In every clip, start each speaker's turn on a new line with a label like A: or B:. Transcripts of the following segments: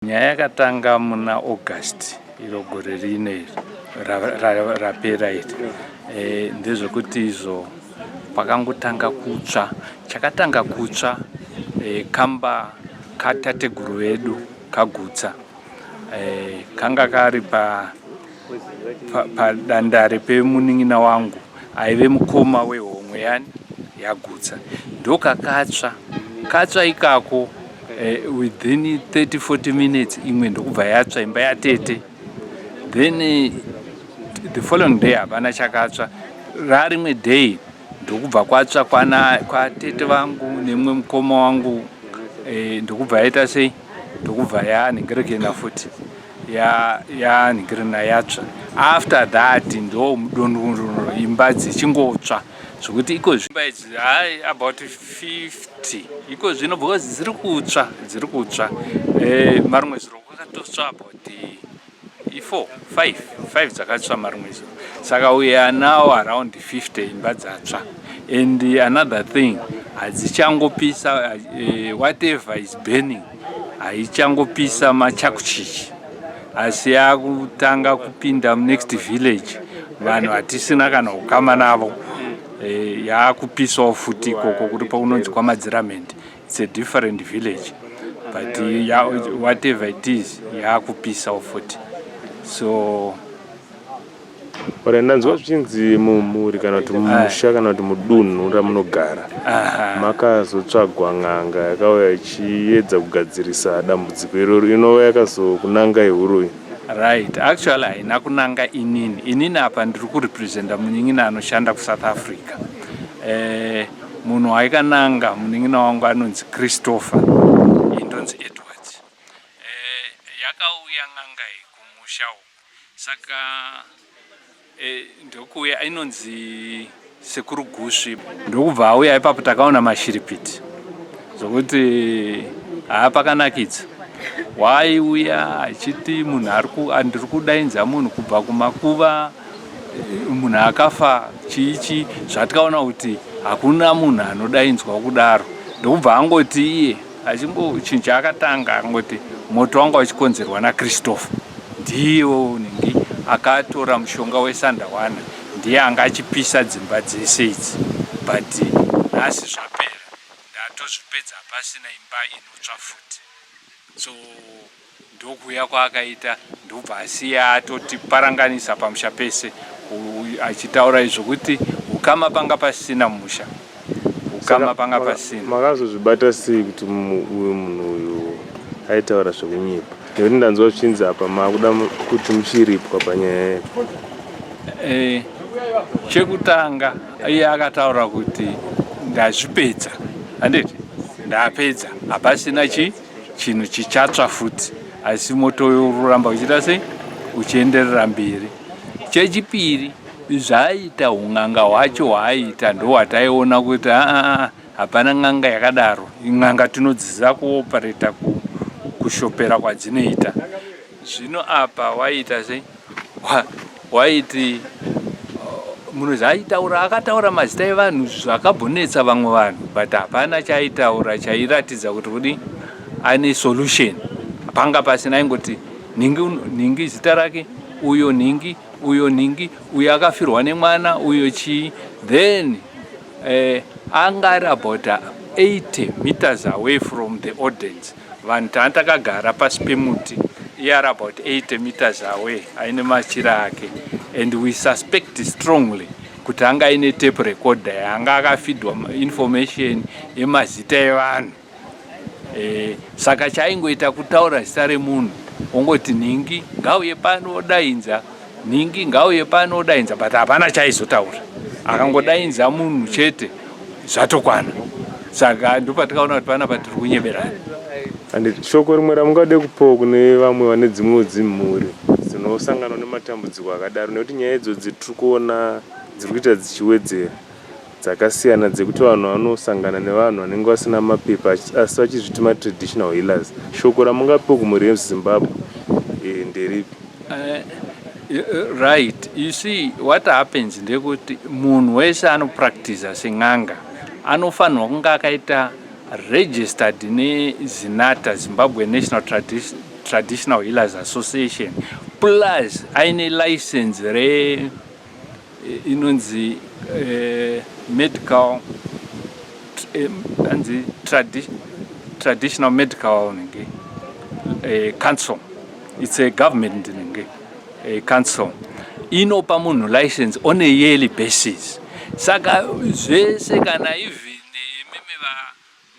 A: Nyaya yakatanga muna August iro gore rino iri rapera iri eh, ndezvekuti izvo pakangotanga kutsva chakatanga kutsva eh, kamba katateguru vedu kagutsa eh, kanga kari pa padandare pemunin'ina wangu aive mukoma wehomwe yani yagutsa ndokakatsva katsva ikako eh, within 30 40 minutes imwe ndokubva yatsva imba yatete then eh, the following day hapana chakatsva rarimwe day ndokubva kwatsva kwana kwatete vangu nemumwe mukoma wangu eh, ndokubva yaita sei ndokubva yanhengerekena futi ya ya nigirina yatsva after that ndo mudonoro imba dzichingotsva zvekuti iko zvimba idzi hai about 50 iko zvino because dziri kutsva dziri kutsva eh, marumwe zuro kwakatotsva about i4 5 5 dzakatsva marumwe zuro saka we are now around 50 imba dzatsva and another thing hadzichangopisa uh, whatever is burning haichangopisa machakuchichi asi yakutanga kupinda munext village vanhu hatisina kana ukama navo eh, yakupisawo futi ikoko kuri pakunonzi kwamadziramend its a different village but ya, whatever it is yakupisawo futi so
B: Ora ndanzwa zvichinzi mumhuri kana kuti mumusha kana kuti mudunhu ramunogara makazotsvagwa n'anga yakauya ichiedza kugadzirisa dambudziko iroro inova yakazokunanga ihuroyi right actually
A: haina kunanga inini inini apa ndiri kurepresenta munin'ina anoshanda kusouth africa eh, munhu waikananga munin'ina wangu anonzi christopher indonzi edwards eh, yakauya n'anga iyi kumusha uku Saka eh, ndokuuya ainonzi sekuru gusvi ndokubva auya ipapo takaona mashiripiti zvokuti haa pakanakidza waaiuya achiti munhu andiri kudainza munhu kubva kumakuva munhu akafa chii chii zvatikaona kuti hakuna munhu anodainzwa kudaro ndokubva angoti iye Achimbo chinhu chaakatanga akangoti moto wanga uchikonzerwa naChristopher ndiye unenge akatora mushonga wesandawana ndiye anga achipisa dzimba dzese idzi but nhasi zvapera ndatozvipedza pasina imba inotsva futi so Ndokuuya kwaakaita ndobva asiya atotiparanganisa pamusha pese achitaura izvo kuti ukama panga pasina mumusha ukama panga pasina. Makazozvibata sei
B: kuti uyu munhu uyu aitaura zvekunyepa nekuti ndanzwa zvichinzi apa makuda kuti muchiripwa panyaya yedu. Eh,
A: chekutanga iye akataura kuti ndazvipedza handiti ndapedza hapasina chii chinhu chichatsva futi asi moto uyo ururamba uchiita sei uchienderera mberi chechipiri zvaaita un'anga hwacho hwaaita ndohwataiona kuti aa ah, ah, ah, hapana n'anga yakadaro n'anga tinodziziva kuopareta kushopera kwadzinoita zvino apa waiita sei waiti uh, munozi aitaura akataura mazita evanhu zvakabonetsa vamwe vanhu but hapana chaaitaura chairatidza kuti kudi ane solution panga pasina aingoti nhingi nhingi zita rake uyo nhingi uyo nhingi uyo akafirwa nemwana uyo chii then eh, anga ari about 80 meters away from the audience Vanhu tanga takagara pasi pemuti iye ari about 80 meters away aine machira ake and we suspect strongly kuti anga aine tape recorder yaanga akafidwa information yemazita evanhu e, saka chaingoita kutaura zita remunhu ongoti nhingi ngauye pano odainza Nhingi ngauye pano odainza but hapana chaizotaura. Akangodainza munhu chete zvatokwana. Saka ndopatikaona kuti panapa tiri kunyeberana. And
B: shoko rimwe ramungade kupawo kune vamwe vane dzimwewo dzimhuri dzinosangana nematambudziko akadaro nekuti nyaya idzodzi tiri kuona dziri kuita dzichiwedzera. dzakasiyana dzekuti vanhu vanosangana nevanhu vanenge vasina mapepa asi vachizviti matraditional healers shoko ramungapiwa kumhuri yezimbabwe eh, nderipi eh, eh,
A: right you see what happens ndekuti munhu wese anopractiza sen'anga anofanirwa kunge akaita registered nezinata zimbabwe national Tradition, traditional healers association plus aine license re inonzi eh, medical eh, anzi tradi, traditional medical nenge eh, council it's a government nenge eh, council inopa munhu license on a yearly basis saka zvese kana even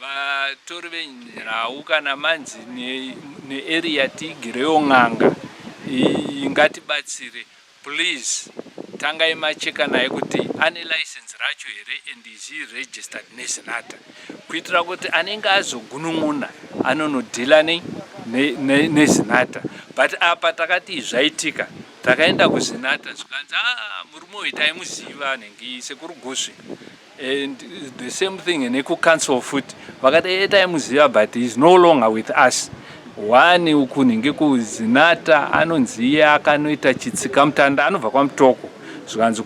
A: vatori venhau kana manzi nearea tigirewo n'anga ngatibatsire Please tangai macheka naye kuti ane license racho here and is he registered neZinatha kuitira kuti anenge azogunun'una anonodhila nei nezinata but apa takati zvaitika takaenda kuzinata zvikanzi a ah, murume uyu taimuziva anenge sekuru gusvi And the same thing nekucouncil futi vakati e taimuziva but is no longer with us wani ukunhi ngekuzinata anonzi iye akanoita chitsikamutanda anobva kwamutoko zvikanzi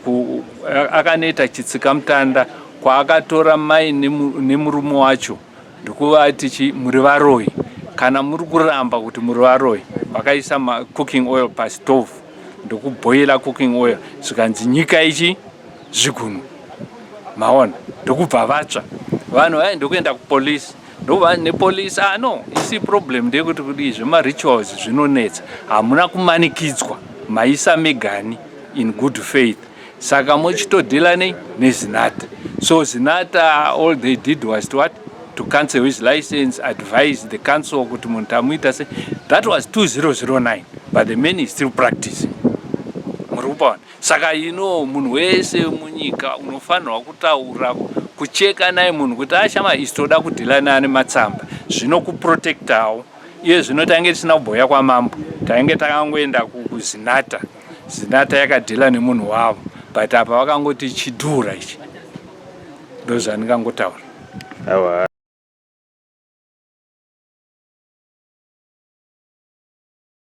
A: akanoita chitsikamutanda kwaakatora mai nemurume wacho ndokuvati chi muri varoyi kana muri kuramba kuti muri varoyi vakaisa macooking oil pastove ndokubhoira cooking oil zvikanzi nyika ichi zvigunwe maona ndokubva vatsva vanhu vaye ndokuenda kupolice ndova nepolice ah no isi problem ndeyekuti kudii zvemarituals zvinonetsa hamuna kumanikidzwa maisa megani in good faith saka mochitodhila nei nezinata so zinata all they did was to what to cancel his license advise the council kuti munhu tamuita se that was 2009 but the man is still practicing muri kupaona Saka you know munhu wese munyika unofanirwa kutaura kucheka naye munhu kuti ashama isi toda kudhila naane matsamba zvinokuprotectawo iye zvino tainge tisina kubhoya kwamambo tainge takangoenda kuzinata zinata yakadhila nemunhu wavo but apa vakangoti chidhura ichi ndozvandingangotaura awa